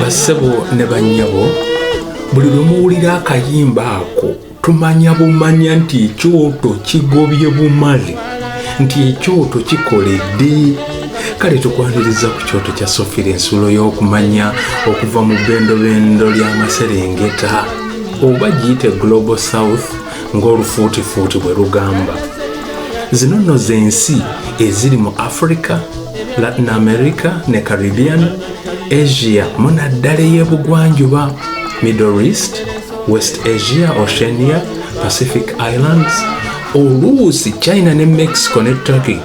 bassebo ne bannyabo buli lwe muwulira akayimba ako tumanya bumanya nti ekyoto kigobye bumale nti ekyoto kikoledde kale tukwaniriza ku kyoto kya sofira ensulo y'okumanya okuva mu bendobendo ly'amaserengeta oba giyite global south ng'olufuutifuuti bwe lugamba zino nno z'ensi eziri mu africa latin america ne caribbean asia munaddala ey'ebugwanjuba middle east west asia oceania pacific islands oluusi china ne mexico ne turkey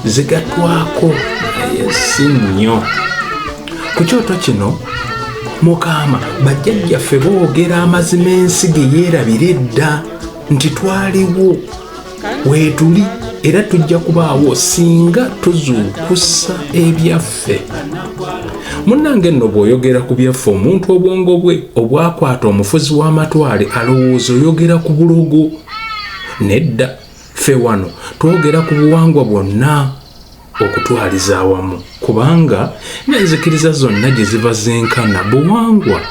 zigatwako naye si nnyo ku kyoto kino mukama bajjajjaffe boogera amazima ensi ge yeerabira edda nti twaliwo weetuli era tujja kubaawo singa tuzuukusa ebyaffe munnange nno bw'oyogera ku byaffe omuntu obwongo bwe obwakwata omufuzi w'amatwale alowooza oyogera ku bulogo nedda ffe wano twogera ku buwangwa bwonna okutwaliza awamu kubanga n'enzikiriza zonna gye ziva zenkana buwangwa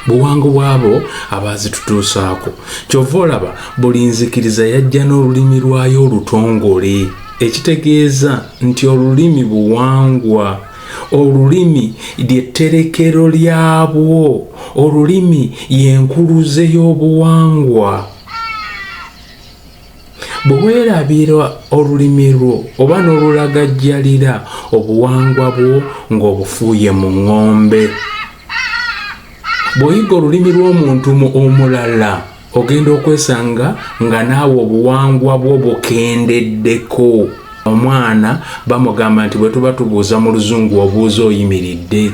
buwango bwabo abaazitutuusaako kyova olaba buli nzikiriza yajja n'olulimi lwayo olutongole ekitegeeza nti olulimi buwangwa olulimi lyetterekero lyabwo olulimi y'enkuluze y'obuwangwa bwe weerabira olulimi lwo oba n'olulagajjalira obuwangwa bwo ng'obufuuye mu ŋŋombe bw'oyiga olulimi lw'omuntu mu omulala ogenda okwesanga nga naawe obuwangwa bwo bukendeddeko omwana bamugamba nti bwe tuba tubuuza mu luzungu obuuza oyimiridde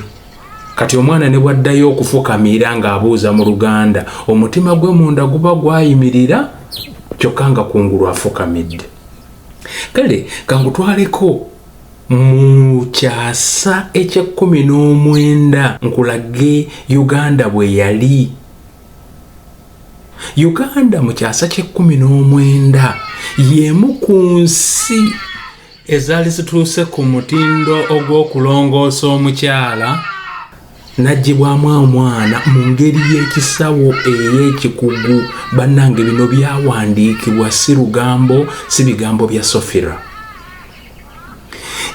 Kati omwana ne bwaddayo okufukamiira ng'abuuza mu Luganda, omutima gwe munda guba gwayimirira kyokka nga kungulu afukamidde. Kale kangutwaleko mu kyasa eky'ekkumi n'omwenda nkulage Uganda bwe yali. Uganda mu kyasa ky'ekkumi n'omwenda y'emu ku nsi ezaali zituuse ku mutindo ogw'okulongoosa omukyala n'aggyibwamu omwana mu ngeri y'ekisawo ey'ekikugu bannange bino byawandiikibwa si lugambo si bigambo bya sofira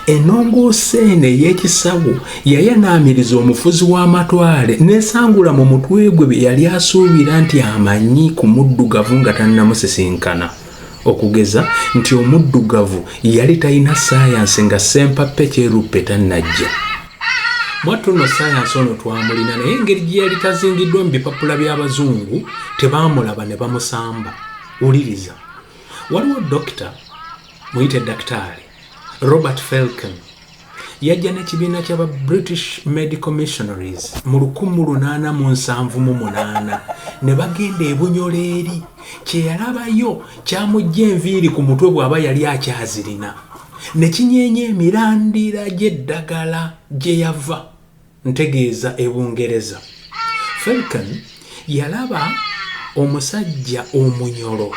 enongoosa eno ey'ekisawo yayanaamiriza omufuzi w'amatwale n'esangula mu mutwe gwe bye yali asuubira nti amanyi ku muddugavu nga tannamusisinkana okugeza nti omuddugavu yali talina sayansi nga sempappe kyeruppe tannajja mwattu no sayansi ono twamulina naye engeri gye yali tazingiddwa mu bipapula by'abazungu tebaamulaba ne bamusamba wuliriza waliwo dokita muyite dakitaali robert felken yajja n'ekibiina kyaba british medical missionaries mu 1878 ne bagenda ebunyola eri kyeyalabayo kyamujja enviiri ku mutwe bw'aba yali akyazirina ne kinyeenya emirandira gy'eddagala gye yava Ntegeeza e Bungereza. Felken yalaba omusajja omunyolo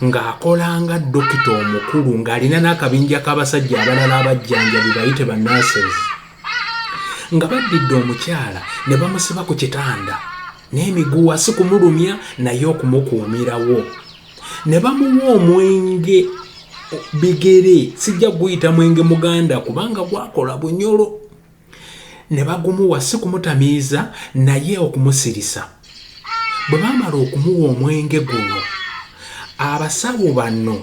ng'akola nga dokita omukulu ng'alina n'akabinja k'abasajja abalala abajjanjabi bayite ba nurses nga baddidde omukyala ne bamusiba ku kitanda n'emiguwa si kumulumya naye okumukuumirawo ne bamuwa omwenge bigere sijja guyita mwenge muganda kubanga gwakola bunyolo ne bagumuwa si kumutamiiza naye okumusirisa bwe baamala okumuwa omwenge guno abasawo bano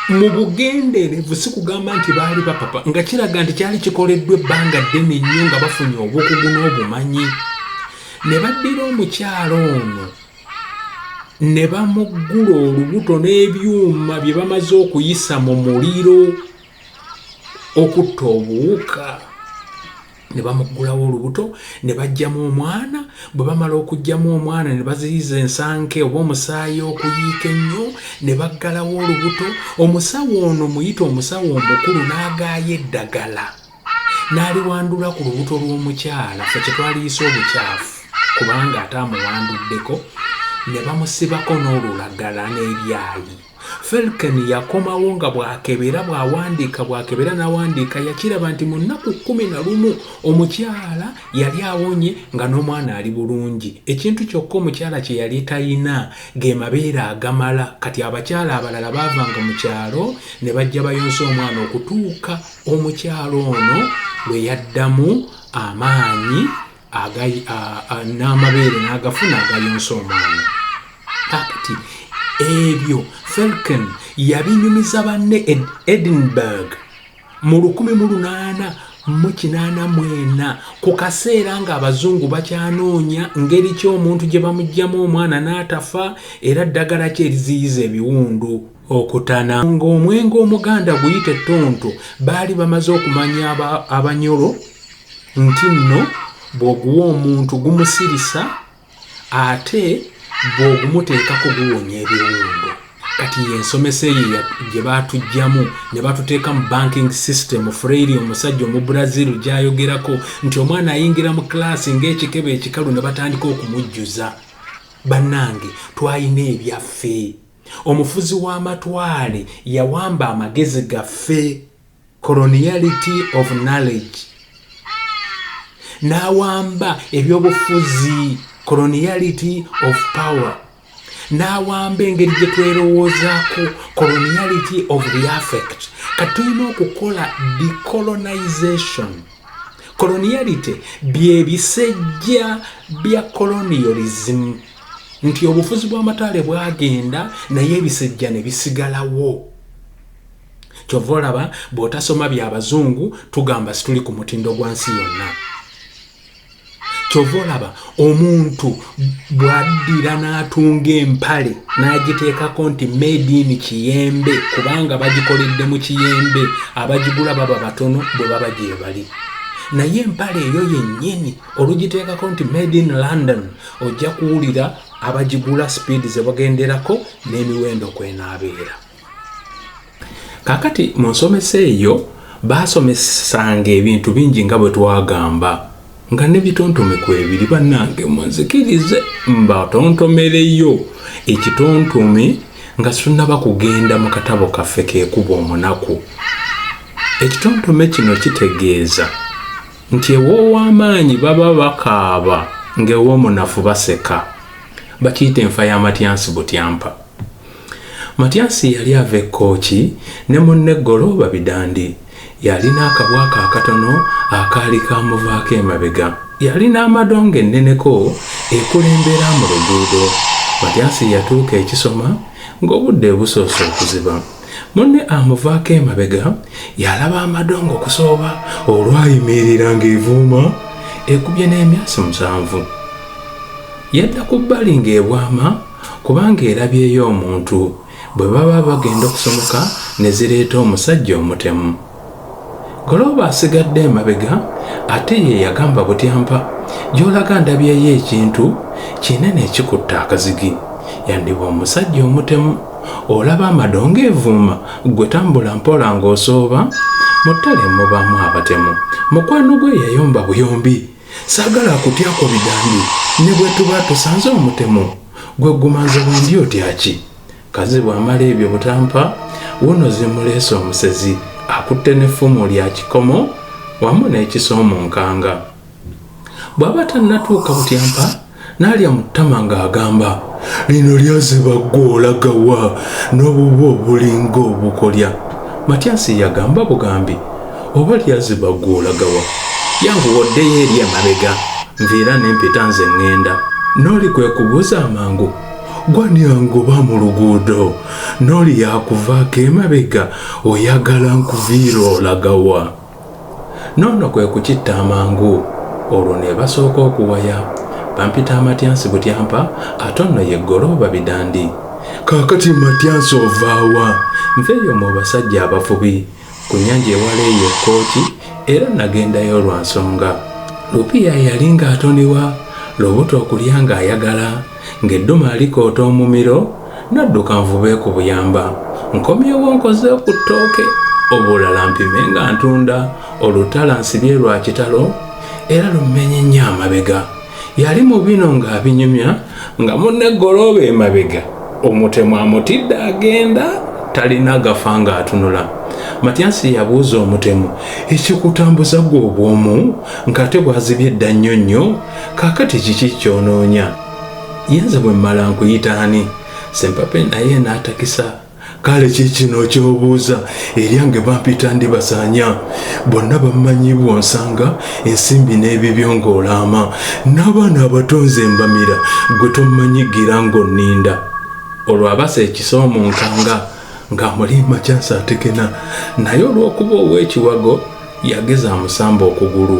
mu bugenderevu si kugamba nti baali bapapa nga kiraga nti kyali kikoleddwa ebbanga ddene nnyo nga bafunye obukugu n'obumanyi ne baddira omukyalo ono ne bamuggula olubuto n'ebyuma bye bamaze okuyisa mu muliro okutta obuwuka ne bamuggulawo olubuto ne baggyamu omwana bwe bamala okuggyamu omwana ne baziyiza ensanke oba omusaayi okuyiika ennyo ne baggalawo olubuto omusawo ono muyita omusawo omukulu n'agaaya eddagala n'aliwandula ku lubuto lw'omukyala fe kye twaliyisa obukyafu kubanga ate amuwanduddeko ne bamusibako n'olulagala n'ebyayi Felken yakomawo nga bw'akebera bw'awandiika bw'akebera n'awandiika yakiraba nti mu nnaku kkumi na lumu omukyala yali awonye nga n'omwana ali bulungi ekintu kyokka omukyala kye yali talina ge mabeere agamala kati abakyala abalala baavanga mu kyalo ne bajja bayonsa omwana okutuuka omukyala ono lwe yaddamu amaanyi n'amabeere n'agafuna agayonsa omwana kakati ebyo felken yabinyumiza banne e edinburg mu lukumi mu lunaana mu kinaana mwena ku kaseera ng'abazungu bakyanoonya ngeri ki omuntu gye bamugyamu omwana n'atafa era ddagala ki eriziyiza ebiwundu okutana ng'omwenge omuganda guyite ttonto baali bamaze okumanya abanyolo nti nno bw'oguwa omuntu gumusirisa ate bw'ogumuteeka kuguwonya ebiwundu kati yensomesa eyo gye baatugyamu ne batuteeka mu banking system freiri omusajja omu brazil gyayogerako nti omwana ayingira mu klaasi ng'ekikebe ekikalu ne batandika okumujjuza bannange twalina ebyaffe Omufuzi w'amatwale yawamba amagezi gaffe, coloniality of knowledge, n'awamba ebyobufuzi, coloniality of power, n'awamba engeri gye twerowoozaako, coloniality of the affect. Kati tulina okukola decolonization. Coloniality bye bisejja bya colonialism. nti obufuzi bw'amataale bwagenda naye ebisejja ne bisigalawo kyova olaba bw'otasoma bya bazungu tugamba situli ku mutindo gwa nsi yonna kyova olaba omuntu bwaddira n'atunga empale n'agiteekako nti mediini kiyembe kubanga bagikoledde mu kiyembe abagigula baba batono bwe baba gyebali naye empale eyo yennyini olugiteekako nti made in london ojja kuwulira abagigula sipiidi ze bagenderako n'emiwendo kwenaabeera kakati mu nsomesa eyo baasomesanga ebintu bingi nga bwe twagamba nga nebitontome kwebiri bannange munzikirize mbatontomereyo ekitontome nga situnaba kugenda mu katabo kaffe kekuba omunaku ekitontome kino kitegeeza nti ew'ow'amaanyi baba bakaaba ng'ew'omunafu baseka bakiyita enfa ya matyansi butyampa matyansi yali ava ekkooki ne munne golo babidandi yalina akabwako akatono akaali kamuvaako emabega yalina amadongo enneneko ekulembera mu luguudo matyansi yatuuka ekisoma ng'obudde busoose okuziba Munne amuvaako emabega yalaba amadongo okusooba olwayimirira ng'evuuma ekubye n'emyasi musanvu. Yadda ku bbali ng'ebwama kubanga erabyeyo omuntu bwe baba bagenda okusomoka ne zireeta omusajja omutemu. Golooba asigadde emabega ate ye yagamba Butyampa gy'olaga ndabyeyo ekintu kinene ekikutte akazigi. Yandiba omusajja omutemu olaba amadongo evuuma ggwe tambula mpola ng'osooba mu ttale mubaamu abatemu. Mukwano gwe yayomba buyombi saagala akutyako bidandi ne bwe tuba tusanze omutemu gwe guma nze wendi otya ki? Kazibwe amala ebyo butampa wuno zimuleese omusezi akutte n'effumu lya kikomo wamu n'ekiso mu nkanga. Bw'aba tannatuuka butyampa n'alya mu ttama ng'agamba, lino lyaziba ggwe olaga wa n'obubwo obulinga obukolya. Matyasi yagamba bugambi, oba lyaziba ggwe olaga wa? Yanguwa oddeyo eri emabega, nviira ne mpita nze ŋŋenda. N'oli kwe kubuuza amangu gwanyangoba mu luguudo n'oli yakuvaako emabega oyagala nkuviira olagawa noono kwe kukitta amangu olwo ne basooka okuwaya bampita amatyansi butyampa ate ono ye ggolooba bidandi kaakati matyansi ovaawa nveeyo mu basajja abafubi Ku nnyanja ewala eyo Kooki era nagendayo lwa nsonga. Lupiya yali ng'atoniwa, lubuto okulya ng'ayagala, ng'eddume alikoota omumiro, nadduka nvube ku buyamba. Nkomyewo nkoze ku ttooke, obulala mpime nga ntunda, olutala nsibye lwa kitalo era lummenye nnyo amabega. yali mu bino ng'abinyumya nga munne golooba emabega omutemu amutidde agenda talina gafa ng'atunula matyasi yabuuza omutemu ekikutambuza gwe obwomu ng'ate bwazibye edda nnyo nnyo kaakati kiki kyonoonya yenze bwe mmala nkuyita ani sempape naye n'atakisa kale kikino kyobuuza eryange bampita ndi basanya bonna bammanyi bwonsanga ensimbi n'ebibyo ng'olaama n'abaana abatonze embamira gwe tommanyi gira ng'onninda olwo abasa ekisa omunkanga ng'amulimba kyansi atekena naye olw'okuba ow'ekiwago yageza amusamba okugulu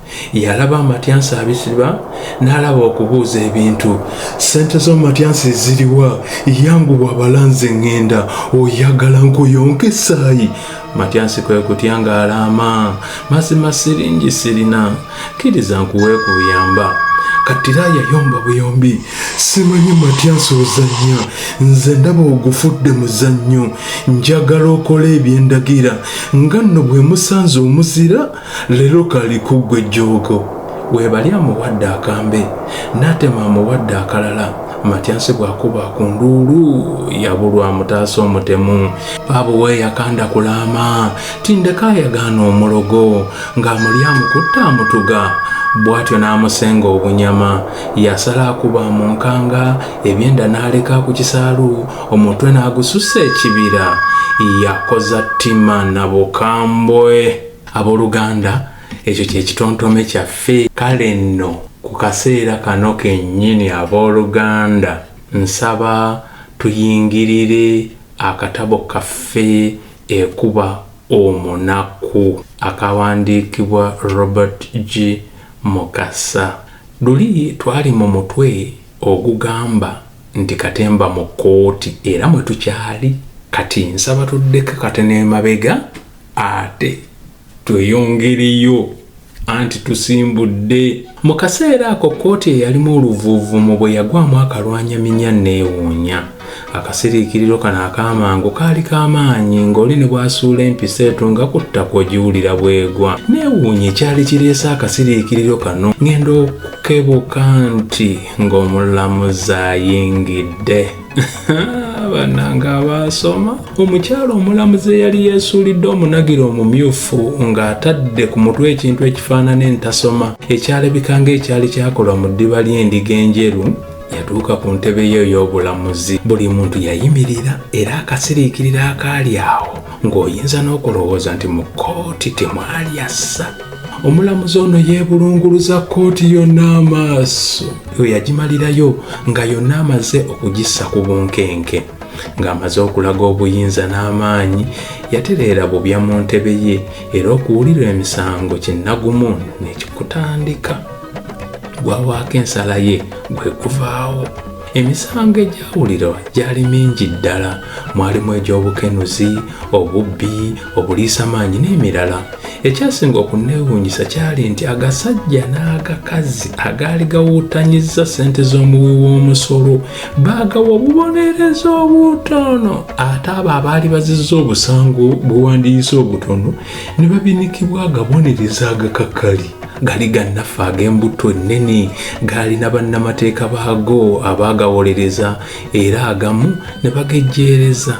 yalaba amatyansi abisiba n'alaba okubuuza ebintu sente z'amatyansi ziriwa yanguwa abalanze ŋŋenda oyagala nkuyonka essaayi matyansi kwe kutya ng'alaama mazima siringi sirina kkiriza nkuweekuyamba katira yayomba buyombi simanyi matyansi ozannya nze ndaba ogufudde muzannyo njagala okola ebyendagira nga nno bwe musanze omuzira Lero kali kuggwe jjoogo. Webali amuwadde akambe natema amuwadde akalala matyansi bwakuba ku nduulu yabulwa amutaasa omutemu baabo weyakanda kulaama tindeka ayagaana omulogo ng'amuli amukutta amutuga bwatyo n'amusenga obunyama yasala akuba mu nkanga ebyenda n'aleka ku kisaalu omutwe n'agususa ekibira yakoza ttima nabukambwe Abooluganda, ekyo kye kitontome kyaffe. Kale nno, ku kaseera kano kennyini, abooluganda, nsaba tuyingirire akatabo kaffe Ekuba Omunaku, akaawandiikibwa Robert G. Mukasa. Luli twali mu mutwe ogugamba nti Katemba mu Kkooti, era mwe tukyali kati. Nsaba tuddeko katono emabega. ate tweyongereyo anti tusimbudde mu kaseera ako kkooti eyalimu oluvuuvumu bwe yagwamu akalwanya minya neewuunya akasiriikiriro kano ak'amangu kaali k'amaanyi ng'oli ne bw'asuula empisa etu nga ku ttaka ogiwulira bwegwa neewuunya ekyali kireese akasiriikiriro kano ng'enda okukebuka nti ng'omulamuzi ayingidde banange abaasoma omukyalo omulamuzi eyali yeesuulidde omunagiro omumyufu ng'atadde ku mutwe ekintu ekifaanana entasoma ekyalabika ng'ekyali kyakolwa mu ddiba ly'endiga enjeru yatuuka ku ntebe ye ey'obulamuzi buli muntu yayimirira era akasiriikirira akaali awo ng'oyinza n'okulowooza nti mu kkooti temwali assa omulamuzi ono yeebulunguluza kkooti yonna amaaso eyo yagimalirayo nga yonna amaze okugissa ku bunkenke ng'amaze okulaga obuyinza n'amaanyi yatereera bubya mu ntebe ye era okuwulira emisango kinnagumu nekikutandika gwawaako ensala ye gwekuvaawo Emisango egyawulirwa gyali mingi ddala, mwalimu egy'obukenuzi, obubbi, obuliisamaanyi n'emirala. Ekyasinga okunneewuunyisa kyali nti agasajja n'agakazi agaali gawuutanyizza ssente z'omuwi w'omusolo baagawa obubonerezo obutono ate abo abaali bazizza obusango bwe wandiyise obutono ne babinikibwa agabonerezo agakakali. gali gannaffe ag'embutto ennene gaalina bannamateeka baago abaagawolereza era agamu ne bagejjeereza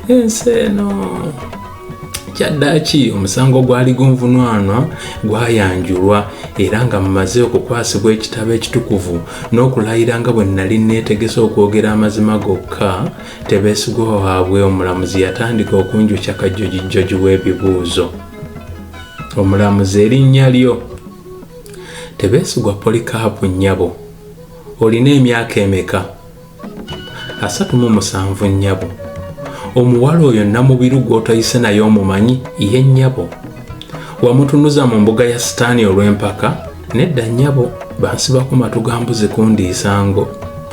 ensi eno kyaddaaki omusango gwali gunvunwanwa gwayanjulwa era nga mumaze okukwasibwa ekitabo ekitukuvu n'okulayira nga bwe nnali neetegese okwogera amazima gokka tebeesigwa waabwe omulamuzi yatandika okunjukya kajjojijjoji w'ebibuuzo omulamuzi erinnya lyo tebeesigwa polikaapu nnyabo olina emyaka emeka asatu mu musanvu nnyabo omuwala oyo namubiru gw'otayise naye omumanyi ye nnyabo wamutunuza mu mbuga ya sitaani olw'empaka Nedda nnyabo, bansiba ku matu ga mbuzi kundiisa ngo.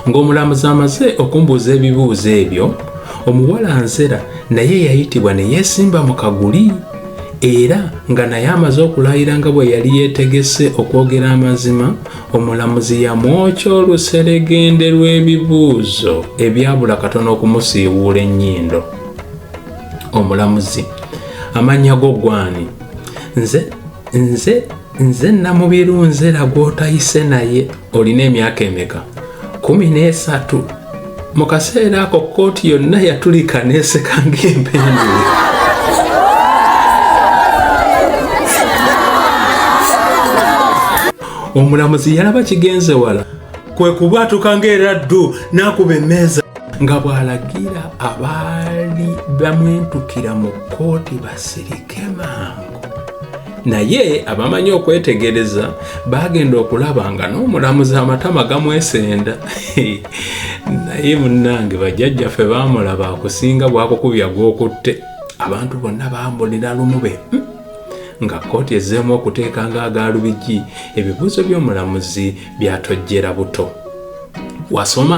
Ng'omulamuzi amaze okumbuuza ebibuuzo ebyo, omuwala nzera naye yayitibwa ne yeesimba mu kaguli era nga naye amaze okulayira nga bwe yali yeetegese okwogera amazima, omulamuzi yamwokya oluseregende lw'ebibuuzo ebyabula katono okumusiiwuula ennyindo. Omulamuzi, amannya go gwani? Nze, nze nze namubiru nzera gwotayise naye olina emyaka emeka kumi n'esatu mu kaseera ako kkooti yonna yatulika neeseka ng'empendule omulamuzi yalaba kigenze wala kwe kubwatuka ng'era ddu n'akuba emmeeza nga bw'alagira abaali bamwentukira mu kkooti basirika kemangu naye abamanyi okwetegereza bagenda okulaba nga n'omulamuzi amatama gamwesenda naye munange bajjajjaffe bamulaba akusinga bwakukubya gwokutte abantu bonna bambulira lumu be hmm? nga kkooti ezzeemu okuteeka nga agaalubigi ebibuuzo by'omulamuzi byatojjera buto wasoma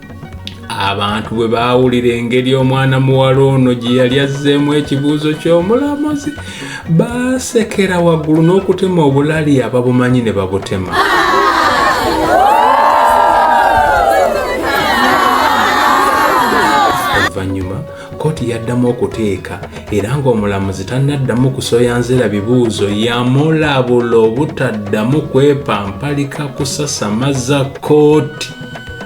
abantu bwe baawulira engeri omwana muwala ono gye yali azzeemu ekibuuzo ky'omulamuzi baasekera waggulu n'okutema obulali ababumanyi ne babutema Kkooti yaddamu okuteeka era ng'omulamuzi tannaddamu kusoya nzera bibuuzo yamulabula obutaddamu kwepampalika kusasamaza kkooti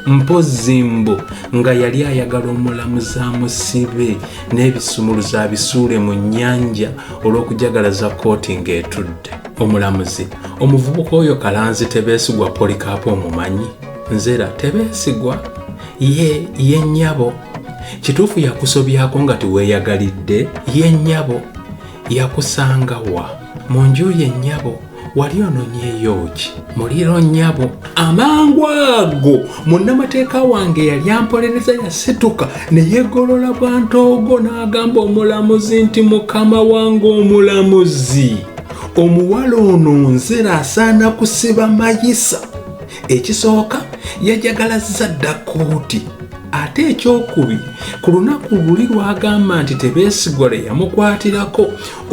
mpozzi mbu nga yali ayagala omulamuzi amusibe n'ebisumuluzo abisuule mu nnyanja olw'okujagalaza kkooti ng'etudde omulamuzi omuvubuka oyo kalanzi tebeesigwa polikaapo omumanyi nzera tebeesigwa ye ye nnyabo kituufu yakusobyako nga tiweeyagalidde ye nnyabo yakusanga wa mu nju ye nnyabo wali ononyeyo ki muliro nnyabo amangu ago munnamateeka wange yali ampolereza yasituka ne yegolola bwantoogo n'agamba omulamuzi nti mukama wange omulamuzi omuwala ono nzera asaana kusiba mayisa ekisooka yajagalazza dda kkooti ate ekyokubiri ku lunaku luli lwagamba nti tebeesigwa lwe yamukwatirako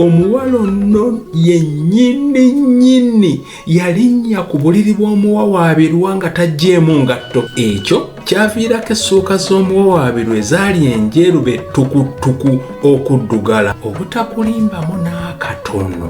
omuwala onno yennyini nnyini yalinnya ku buliri bw'omuwawaabirwa nga taggyeemu ngatto ekyo kyaviirako essuuka z'omuwawaabirwa ezaali enjeru be ttukuttuku okuddugala obutakulimbamu n'akatono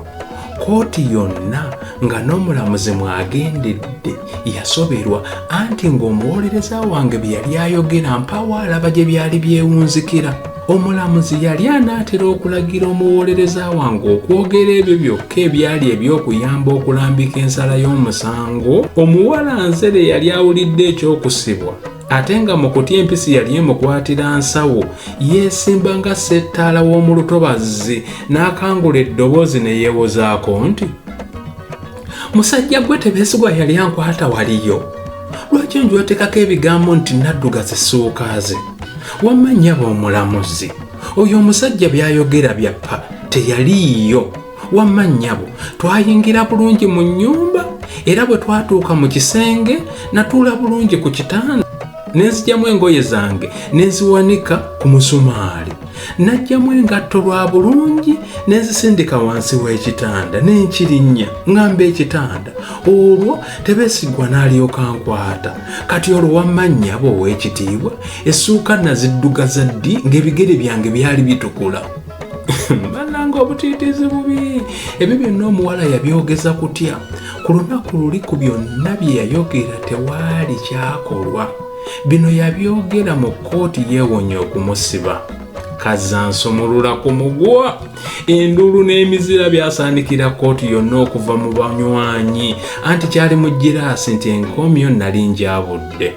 kkooti yonna nga n'omulamuzi mwagendedde yasoberwa anti ng'omuwolereza wange bye yali ayogera mpaawo alaba gye byali byewunzikira omulamuzi yali anaatera okulagira omuwolereza wange okwogera ebyo byokka ebyali eby'okuyamba okulambika ensala y'omusango omuwala nzere yali awulidde ekyokusibwa ate nga mu kutya empisi yali emukwatira nsawo yeesimba nga settaala w'omu lutobazzi n'akangula eddoboozi ne yeewozaako nti musajja gwe tebeesigwa yali ankwata waliyo lwaki onjwatekako ebigambo nti nadduga zisuukaaze wamma nnyaba omulamuzi oyo omusajja by'ayogera byappa teyaliiyo wamma nnyabo twayingira bulungi mu nnyumba era bwe twatuuka mu kisenge natuula bulungi ku kitanda ne nzijamu engoye zange ne nziwanika ku musumaali najjamu engatto lwa bulungi ne nzisindika wansi w'ekitanda ne nkirinnya ng'amba ekitanda olwo tebesigwa n'alyoka nkwata kati olwo wamma nnyabo ow'ekitiibwa essuuka naziddugaza ddi ng'ebigere byange byali bitukula bananga obutiitiizi bubi ebyo byonna omuwala yabyogeza kutya ku lunaku luli ku byonna bye yayogera tewaali kyakolwa bino yabyogera mu kkooti yeewonye okumusiba kazansumulula ku mugwa enduulu n'emizira byasaanikira kkooti yonna okuva mu banywanyi anti kyali mu giraasi nti enkomyo nali njabudde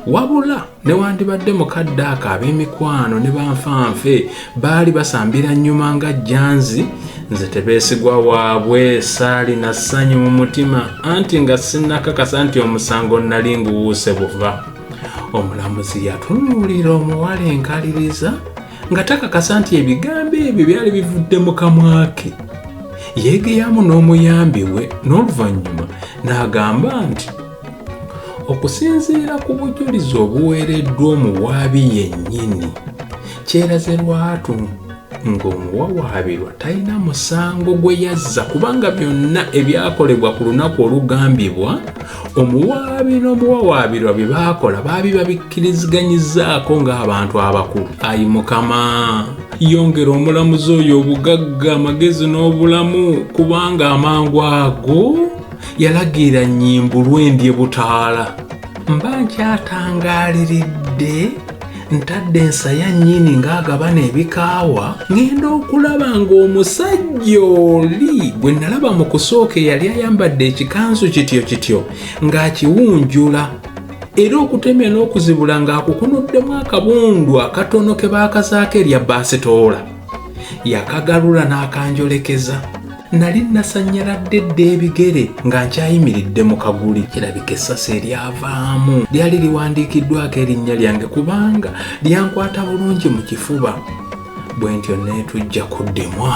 wabula newandibadde mukadde ako ab'emikwano ne banfanfe baali basambira nnyuma nga janzi nze tebeesigwa waabwe saali na ssanyu mu mutima anti nga sinnakakasa nti omusango nnali nguwuuse buva omulamuzi yatunuulira omuwala enkaliriza nga takakasa nti ebigambo ebyo byali bivudde mu kamwa ke yeegeyamu n'omuyambi we n'oluvannyuma n'agamba nti okusinziira ku bujulizi obuweereddwa omuwaabi yennyini kyeraze lwatu ng'omuwawaabirwa talina musango gwe yazza kubanga byonna ebyakolebwa ku lunaku olugambibwa omuwaabi n'omuwawaabirwa bye baakola baabi babikkiriziganyizzaako ng'abantu abakulu ayi mukama yongera omulamuzi oyo obugagga amagezi n'obulamu kubanga amangu ago yalagira nnyimbulwe ndye butaala mba nkyatangaaliridde ntadde ensaya nnyini ng'agabana ebikaawa ng'enda okulaba ng'omusajja oli gwe nalaba mu kusooka eyali ayambadde ekikanzu kityo kityo ng'akiwunjula era okutemya n'okuzibula ng'akukunuddemu akabundu akatono ke baakazaako erya baasitoola yakagalula n'akanjolekeza nali nasannyaladde dda ebigere nga nkyayimiridde mu kaguli kirabika essasi eryavaamu lyali liwandiikiddwako erinnya lyange kubanga lyankwata bulungi mu kifuba bwe ntyo neetujja ku ddemwa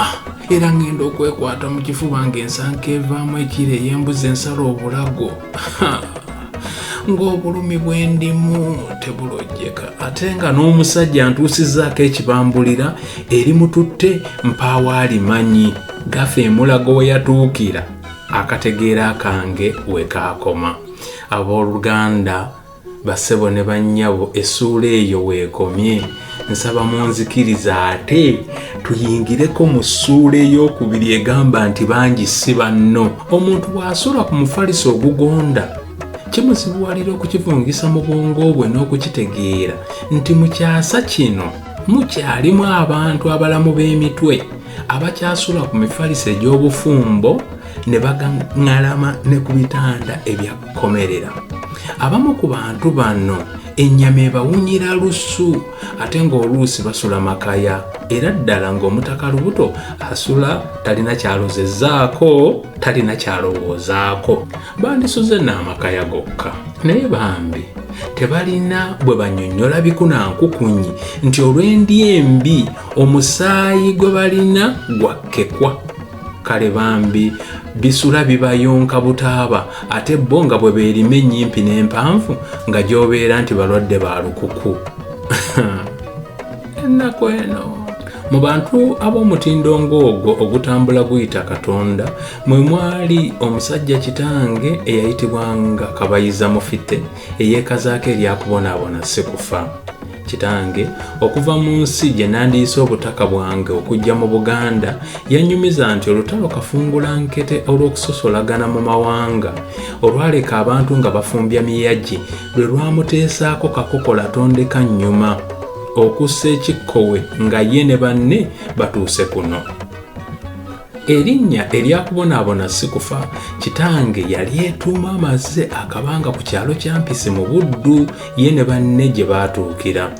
era ng'enda okwekwata mu kifuba ng'ensanka evaamu ekiro ey'embuzi ensala obulago ng'obulumi bwe ndimu tebulojjeka ate nga n'omusajja ntuusizaako ekibambulira eri mututte mpaawo alimanyi gafa emulago we yatuukira akategeera kange we kaakoma abooluganda Bassebo ne bannyabo essuula eyo weekomye. Nsaba munzikirize ate tuyingireko mu ssuula ey'okubiri egamba nti bangi si banno. Omuntu bw'asula ku mufaliso ogugonda, kimuzibuwalira okukivungisa mu bwongo bwe n'okukitegeera nti mu kyasa kino mukyalimu abantu abalamu b'emitwe abakyasula ku mifaliso egy'obufumbo ne bagaŋŋalama ne ku bitanda ebya komerera abamu ku bantu bano ennyama ebawunyira lusu ate ng'oluusi basula makaya era ddala ng'omutaka lubuto asula talina kyalozezaako talina kyalowoozaako bandisuze n'amakaya gokka naye bambi tebalina bwe banyonyola bikunankukunyi nti olw'endi embi omusaayi gwe balina gwakkekwa kale bambi bisula bibayonka butaaba ate bo nga bwe beerima ennyimpi n'empanvu nga gy'obeera nti balwadde ba lukuku ennaku eno mu bantu ab'omutindo ng'ogwo ogutambula guyita katonda mwe mwali omusajja kitange eyayitibwanga kabayiza mufite eyeekazaako eryakubonaabona si kufa Kitange okuva mu nsi gye nandiyise obutaka bwange okujja mu Buganda yannyumiza nti olutalo kafungula nkete olw'okusosolagana mu mawanga olwaleka abantu nga bafumbya miyagi lwe lwamuteesaako kakokola tondeka nnyuma okussa ekikkowe nga ye ne banne batuuse kuno. Erinnya erya kubonaabona si kufa. Kitange yali etuuma amaze akabanga ku kyalo kya Mpisi mu Buddu ye ne banne gye baatuukira.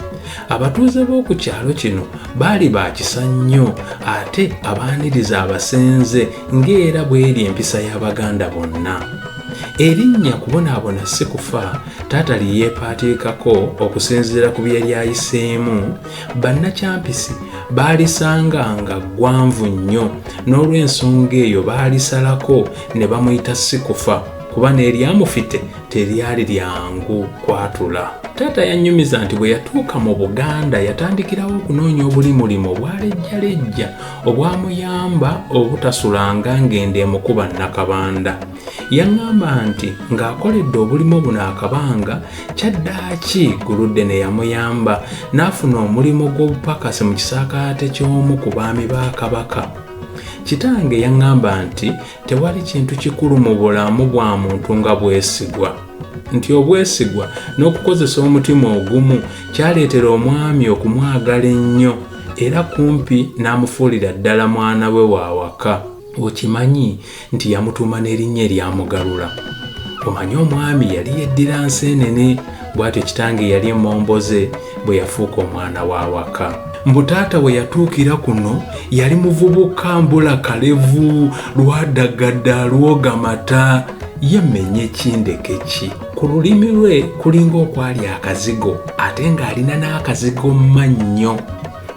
Abatuuze b'oku kyalo kino baali ba kisa nnyo ate abaaniriza abasenze ng'era bw'eri empisa y'Abaganda bonna. Erinnya kubonaabona si kufa taata lye yeepaatiikako okusinziira ku bye yali ayiseemu bannakyampisi baalisanga nga ggwanvu nnyo n'olw'ensonga eyo baalisalako ne bamuyita sikufa kuba n'eryamufite teryali lyangu kwatula taata yannyumiza nti bwe yatuuka mu buganda yatandikirawo okunoonya obuli mulimu obwalejjalejja obwamuyamba obutasulanga ng'ende emukuba nnakabanda Yaŋŋamba nti ng'akoledde obulimo buno akabanga, kyaddaaki Guludene yamuyamba n'afuna omulimu gw'obupakasi mu kisaakaate ky'omu ku baami ba Kabaka. Kitange yaŋŋamba nti tewali kintu kikulu mu bulamu bwa muntu nga bwesigwa, nti obwesigwa n'okukozesa omutima ogumu kyaleetera omwami okumwagala ennyo era kumpi n'amufuulira ddala mwana we w'awaka. Okimanyi? nti yamutuuma n'erinnya eryamugalula omanyi omwami yali yeddira nseenene bw'atyo kitange yali emomboze bwe yafuuka omwana w'awaka mbu taata we yatuukira kuno yali muvubuka mbula kalevu lwadagada lwogamata ye menye kindeke ki ku lulimi lwe kulinga okwali akazigo ate ng'alina n'akazigo mannyo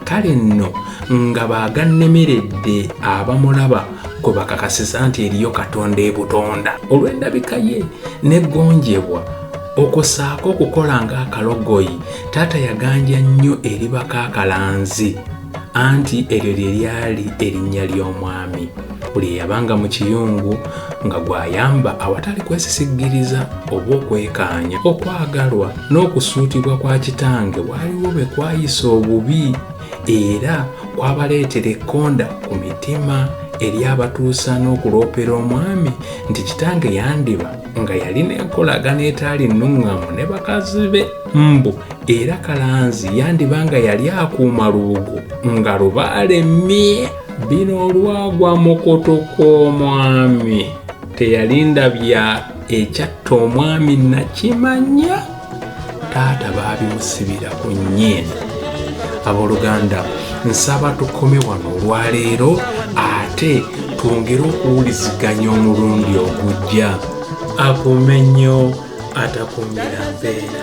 kale nno nga baagannemeredde abamulaba kwe bakakasiza nti eriyo katonda ebutonda olw'endabika ye n'eggonjebwa okusaako okukola ng'akalogoyi taata yaganja nnyo eri bakaakalanzi anti eryo lye lyali erinnya ly'omwami buli eyabanga mu kiyungu nga gw'ayamba awatali kwesisiggiriza oba okwekaanya. Okwagalwa n'okusuutibwa kwa kitange waliwo be kwayisa obubi era kwabaleetera ekkonda ku mitima eri abatuusa n'okuloopera omwami nti kitange yandiba nga yalina enkolagana etaali nnuŋŋamu ne bakazi be mbu era kalanzi yandiba nga yali akuuma lubugo nga lubaale mmye bino olwagwa mukutu kw'omwami teyalinda bya ekyatta omwami nakimanya taata baabimusibira ku nyiini abooluganda nsaba tukome wano olwaleero ate twongere okuwuliziganya omulundi ogujja akumenyo atakumira mpeera